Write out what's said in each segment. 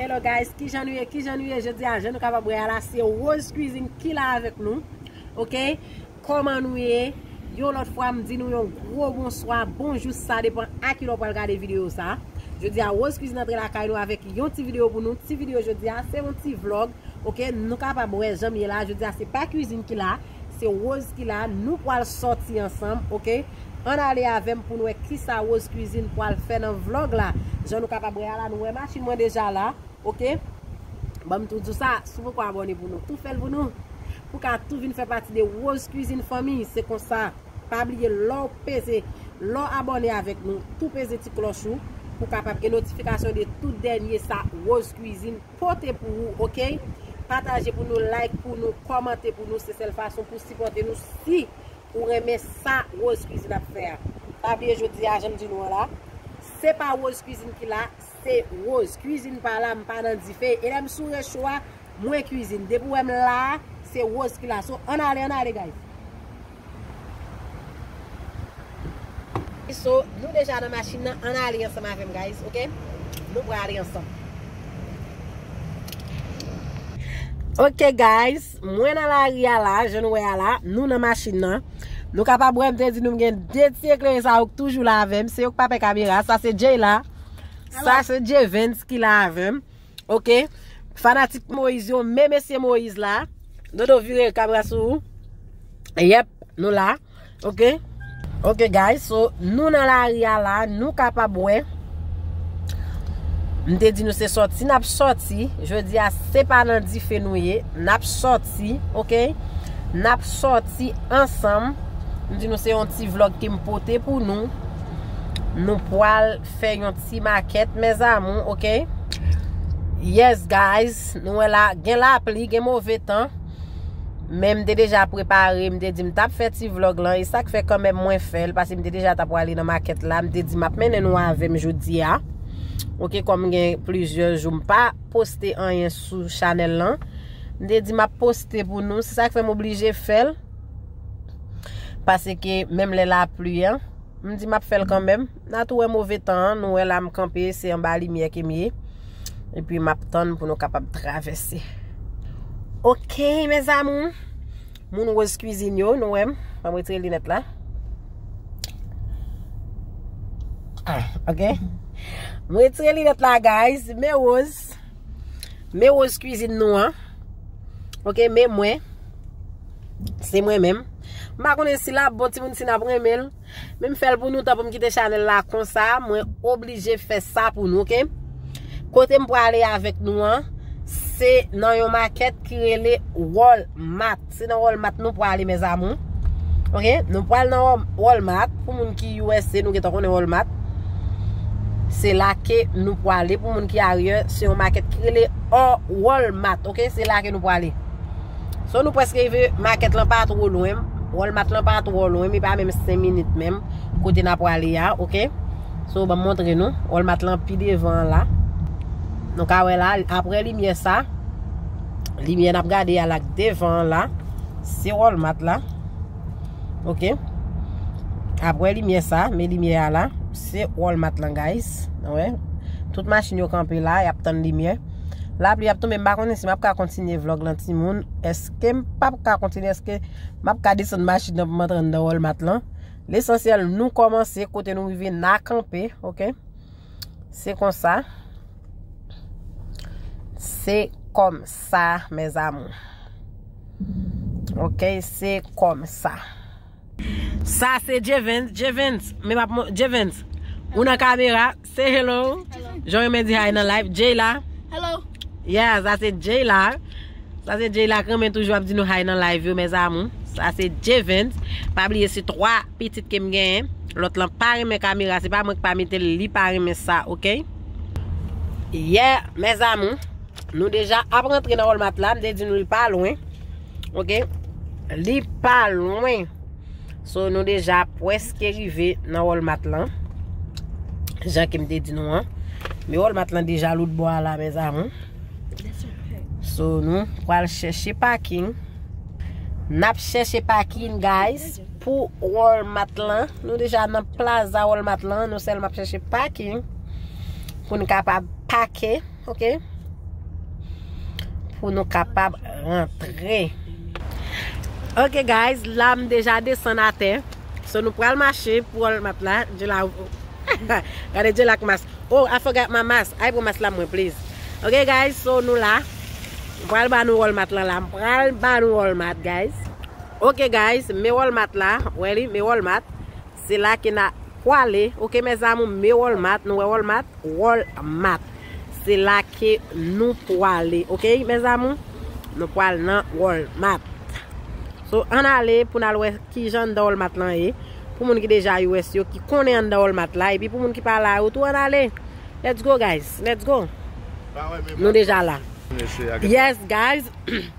Hello guys, kijan nou ye, kijan nou ye jodi a, jan nou kapab wè a la, se Rose Cuisine ki la avèk nou, ok, kòman nou ye, yon lòt fwa m di nou yon gwo bonswa, bonjou, sa depan a ki lè w pral gade videyo sa, jodi a Rose Cuisine antre lakay nou avèk yon ti videyo pou nou, ti videyo jodi a, se yon ti vlog, ok nou kapab wè janm ye la jodia se pa kwizin ki la se Rose ki la nou pwal sòti ansanm ok ann ale avèm poun wè kisa Rose kwizin pwal fè nan vlog la jan nou kapab wè a la nou wè machin mwen deja la ok banm tou diw sa si w poko abòne pou nou tou fèl pou nou pou ka tou vin fè pati de Rose kwizin fanmi se konsa pa bliye lèw peze lèw abòne avèk nou tou peze ti klòch ou pou kapab gen notifikasyon de tout dènye sa Rose kwizin. pote pou ou ok pataje pou nou like pou nou kòmante pou nou se sèl fason pou sipòte nou si ou renmen sa Rose cuisine ap fè a pa bliye jodi a janm di nou an la se pa Rose cuisine ki la se Rose cuisine pa la m pa nan dife e lèm sou recho a mwen cuisine depi ou wèm la se Rose ki la so ann ale ann ale guys. So nou deja nan machin nan ann ale ansanm avèm guys ok nou pran ale ansanm. Ok guys mwen nan lari a la jan nou wè a la nou nan machin nan nou kapab wèm te di nou gen 2 ti eklere sa yo k toujou la avèm se yo k pa pè kamera sa se Jayla sa se Jevens ki la avèm. Ok fanatik moise yo men mesye moise la dodo vire kamera sou ou yep nou la ok ok guys so nou nan lari a la nou kapab wè m te di nou se sòti n ap sòti jodi a se pa nan dife nou ye n ap sòti ok n ap sòti ansanm m di nou se yon ti vlog ke m pote pou nou nou pwal Fè yon ti makèt mes amour ok. Yes guys nou wè la gen lapli gen move tan men m te deja prepare m te di m tap fè ti vlog lan e sak fè kanmèm mwen fèl paske m te deja ta prale nan makèt la m te di map mennen nou avèm jodia ok kòm gen plizyè jou m pa poste anyen sou chanèl lan m te di map poste pou nou se sak fè m oblije fèl paske menm lè lapli an m di map fèl kanmèm. Na tou wè move tan an, nou wè la m kanpe se anba limyè ke m ye epi m ap tann pou nou kapab travèse ok mes amours moun rose cuisine yo nou wè m banm retire linèt la ok m retire linèt la guys me rose me rose cuisine nou an ok me mwen se mwen menm m pa konnen si l ap bon timoun si n ap renmen l. Men m fèl pou nou tan pou m kite chanèl la konsa mwen oblije fè sa pou nou ok kote m prale avèk nou an se nan yon makèt ki rele wòl mat se nan wòl mat nou prale mes amour ok nou pral nan wòl mat pou moun ki usa nou gentan konnen wòl mat se la ke nou prale pou moun ki aryè se yon makèt ki rele wòl mat ok se la ke nou prale. So nou preske rive, market lan pa two lwen, Walmart lan pa two lwen, li pa menm 5 minit menm kote na prale a, ok. So banm montre nou, Walmart lan pi devan la. Nou ka wè la, apre limyè sa, limyè nap gade a la devan la, se Walmart la. Ok. Apre limyè sa, men limyè a la, se Walmart lan guys. Wè, tout machin yo kanpe la, yap tann limyè. Lapli ap tonbe m pa konnen si map ka kontinye vlog lan timoun eskem pap ka kontinye eske map ka desann machin nan pou m antre anndan walmart lan lesansyèl nou kòmanse kote nou rive na kanpe ok se konsa se kòm sa mes amour ok se kòm sa. Sa se Jevens, Jevens, men map mon, Jevens, ou nan kamera, say hello, Jean Remain di hi nan live, Jay la, Hello. yeah, sa se Jay la, sa se Jay la k renmen toujou ap di nou hi nan live yo mes amour, sa se Jevens, pa bliye se 3 pitit kem genyen, lòt lan pa renmen kamera, se pa mwen ki pa mete l, li pa renmen sa ok. Yeah mes amour, nou deja ap rantre nan walmart la, m te di nou li pa lwen. Ok Li pa lwen So nou deja pweske rive nan Walmart lan Jan ke m te di nou an Men Walmart lan deja lout bò a la mes amour So nou pral chèche parking Nap chèche parking guys Pou Walmart lan Nou deja nan plaza Walmart lan Nou sèlman ap chèche parking Pou n kapab pake Ok. Pou nou kapab rentre. Ok guys. La m deja desan a te. So nou pral mache pou al mat la. Je la. Gade je la k mas. Oh I forgot my mas. Ay pou mas la mwen please. Ok guys. So nou la. M pral ba nou al mat la la. M pral ba nou al mat guys. Ok guys. Me al mat la. Wè li. Me al mat. Se la ke na pwale ok mes amour me walmart nou wè walmart wall mat se la ke nou pwale ok mes amour nou pwal nan wall mat so ann ale pou nal wè kijan anndan wall mat lan ye pou moun ki deja us yo ki konnen anndan wall mat la epi pou moun ki pa la yo tou ann ale let's go guys let's go nou deja la yes guys.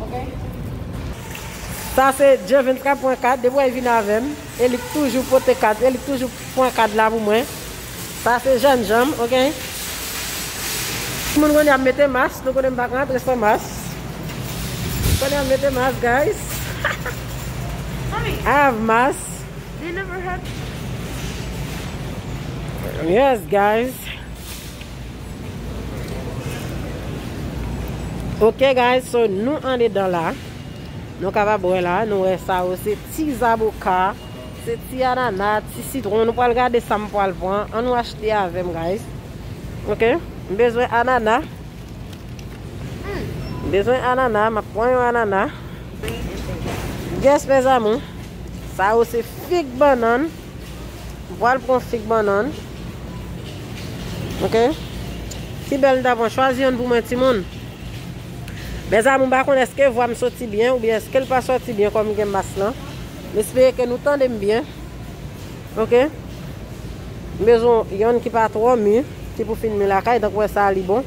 ok. Sa se Jevin kap pran kad depi wè li vin avèm e li k toujou pote kad e li k toujou pran kad la pou mwen sa se jèn janm ok timoun kounye a mete mas nou konnen m pa ka antre san mas kounye a mete mas guys i have mas yes guys. Ok guys so nou andedan la Nou kapab wè la nou wè sa yo se ti zaboka Se ti anana ti sitron nou pral gade sa m pral pran An nou achte avè m guys Ok m bezwen anana M bezwen anana m ap pran yon anana Yes mes amour Sa yo se fig bannann Mpwal pran fig bannann ok si bèl mta pran chwazi yonn pou mwen timoun Mèzamou mpa konn eske vwam soti byen oubyen eskel pa soti byen kòm gen mas lan mespere ke nou tandem byen ok mbezwen yonn ki pa twò mi ki pou fin mi lakay tank wè sa li bon.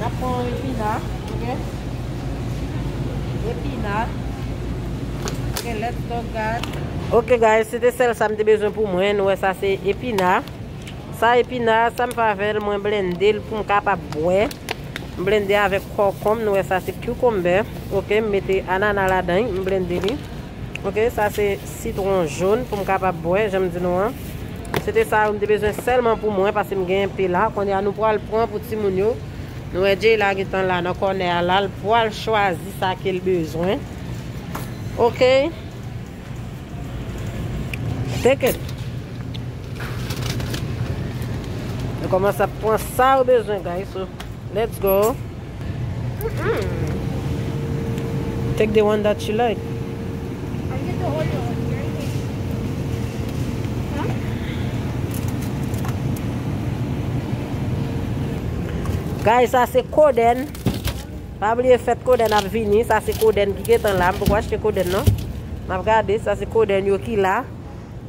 Nap pran yon epina ok. Epina. Ok let's go guys. Ok guys se te sel sa m te bezwen pou mwen nou wè sa se epina. Sa epina sa m fè avèl mwen blende l pou m kapab bwè. M blende avèk kòkonb nou wè sa se cucumber ok m mete anana ladan m blende li. Ok sa se sitron jaune poum kapab bwè janm di nou an. Se te sa yo m te bezwen sèlman pou mwen paske m gen enpe la. Kounye a nou pral pran pou timoun yo. Nou wè Jay la gentan la nan kònè a la l pral chwazi sa ke l bezwen. Ok. Take it. Yo kòmanse ap pran sa yo bezwen guys. Let's go. Take the one that you like. I get the Oreo one. You're in here. Huh? Guys, sa se koden. Pa bliye fèt koden ap vini. Sa se koden ki getan la. M poko achte koden non. M ap gade. Sa se koden yo ki la.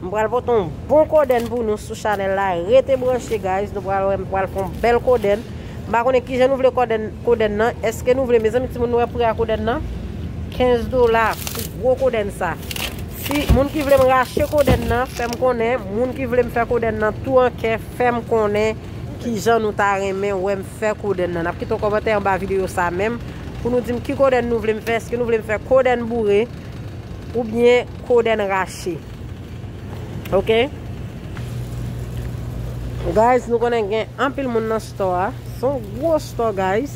M pral pote yon bon kodenn pou nou sou chanèl la rete branche guys nou pral wè m pral fon bèl kodenn m pa konnen kijan nou vle kodenn kodenn nan eske nou vle mezanmi timoun nou wè pri a kodenn nan 15 dola pou gwo kodenn sa si moun ki vle m rache kodenn nan fè m konnen moun ki vle m fè kodenn nan tou an kè fè m konnen kijan nou ta renmen wè m fè kodenn nan nap kite yon kòmantè anba videyo sa menm pou nou di m ki kodenn nou vle m fè eske nou vle m fè kodenn boure. Ou byen kodenn rache. Ok. Guys nou konnen gen anpil moun nan store a. Son gwo store guys.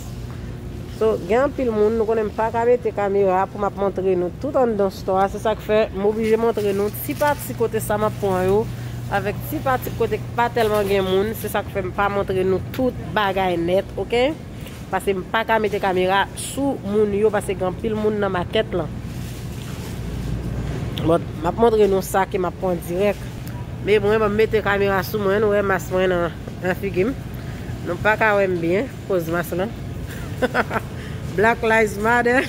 So gen anpil moun nou konnen pa ka mete kamera pou map montre nou tout an dan store a. Se sak fe m oblije montre nou ti pati kote sa map pran yo. Avek ti pati kote pa telman gen moun. Se sak fe m pa montre nou tout bagay net. Ok. Pase m paka mete kamera sou moun yo pase gen anpil moun nan makèt lan. But map montre nou sa ke map pran dirèk. Me mwen banm mete kamera sou mwen nou wè mas mwen nan figi m. Nou paka wè m byen koz mas lan. Black lives matter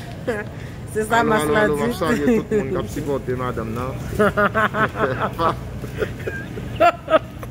se sa mas la di. Alo alo alo map salye tout moun kap sipòte madanm nan.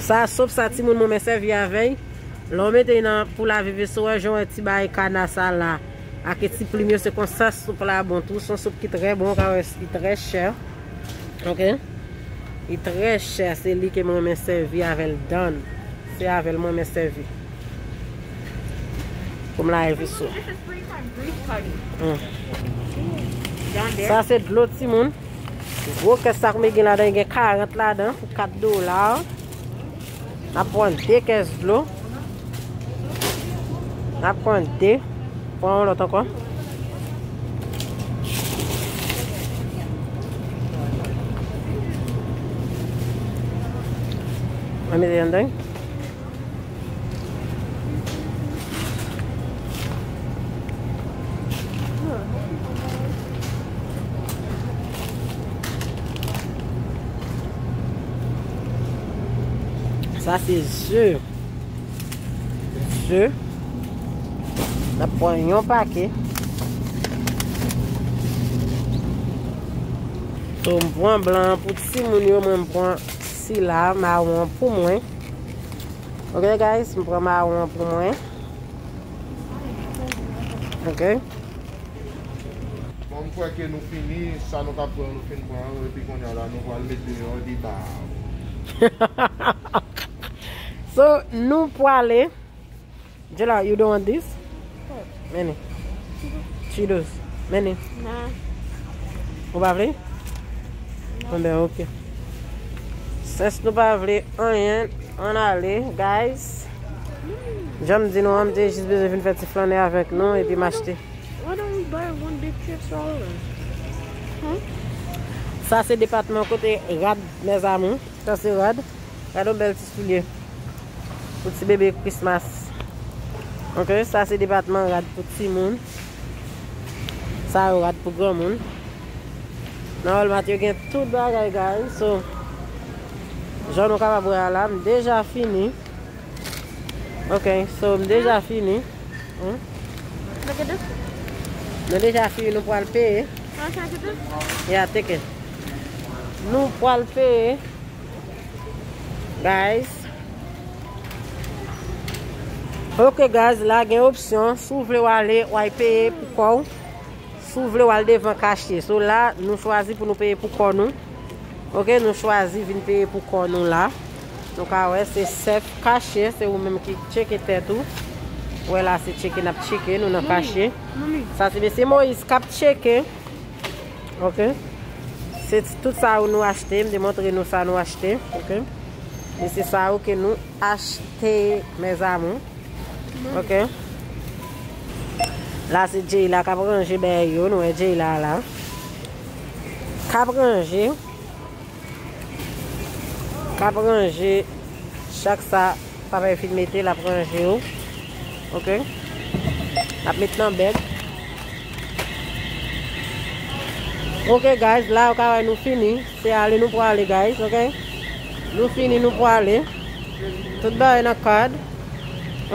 Sa sop sa timoun mwen mwen sèvi avèy lè ou mete nan pou lave veso wè jan wè ti bagay kana sa la ake ti plim yo se konsa sop la bon tou son sop ki trè bon ka wè li trè chè ok li trè chè se li ke mwen mwen sèvi avèl dan se avèl mwen mwen sèvi poum lave veso sa se dlo timoun. Gwo kè sak me gen ladan gen 40 ladan pou 4 dola. Nap pran 2 kès dlo. Nap pran 2. Pran yon lot anko. Mwen mete yon deng. Sa se ze. Ze. Nap pran yon pake. So m pran blan pou ti moun yo mwen m pran sila mawon pou mwen. Ok guys, m pran mawon an pou mwen. Ok. Bon m kwè ke nou fini, sa nou tap pran yo nou fin pran yo, epi kounya la nou pral mete yo an deba. So nou pwale. Jela you don want dis? Many. Cheetos. Many. Ou pa vle? Mwen ben ok. Sens nou pa vle anyen. An ale guys. Janm di nou an mte jis beze vin fè ti flanne avèk nou epi machte. Why don't we buy one big trip for all of us? Sa se depatman kote rad mes amour. Sa se rad. Gade yon bèl ti soulye pou ti bebe Christmas. Ok, sa se depatman rad pou timoun. Sa yo rad pou granmoun. Nan Walmart yo gen tout bagay guys. So, jan nou kapab wè a la, m deja fini. Ok, so m deja fini. Hum? Look at this. Nou deja fini, nou pral peye. Can I try to get this? Yeah, take it. Nou pwal peye guys. Ok guys la gen opsyon si w vle wale way peye pou kò w. Si w vle wale devan kache. So la nou chwazi pou nou peye pou kò nou. Ok nou chwazi vin peye pou kò nou la. Nou ka wè se sèf kache se ou menm ki cheke tèt ou. Wè la se cheke nap cheke nou nan kache. Sa se mesye Moïse kap cheke. Ok Se tout sa ou nou achte, m te montre nou sa nou achte, ok E se sa ou ke nou achte mes amour, ok La se Jeyla kap ranje bèy yo, nou wè Jeyla la Kap ranje Kap ranje chak sa Papa yo fin mete lap ranje yo ok lap met nan bag ok guys la yo ka wè nou fini se ale nou pwale guys ok nou fini nou pwale tout bagay nan kad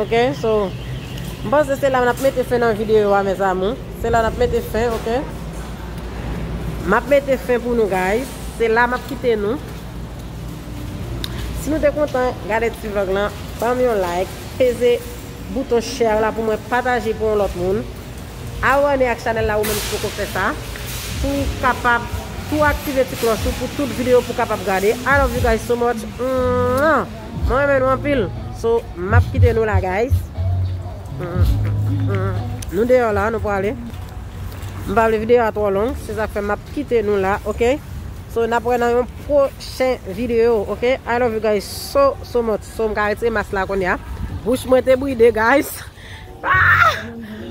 ok so m panse se la nap mete fen nan videyo a mes amour se la nap mete fen ok map mete fen pou nou guys se la map kite nou Si nou te kontan gade ti vlog lan banm yon like peze bouton share la pou mwen pataje pou yon lòt moun abòne ak chanèl la ou menm ki poko fè sa pou kapab tou aktive ti klòch ou pou tout video pou kapab gade I love you guys so much mwen renmen nou anpil so map kite nou la guys nou deyò la nou prale m pa vle video a twò long se sak fè map kite nou la ok. So nap wè nan yon prochen video ok I love you guys so so much so m ka retire mask la kounya bouch mwen te bride guys aah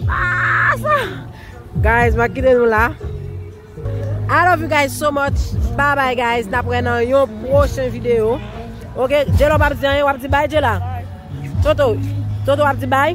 aah sa guys map kite nou la I love you guys so much bye bye guys nap wè nan yon prochen video ok Jelo pap di anyen wap di bye Jela Toto Toto wap di bye.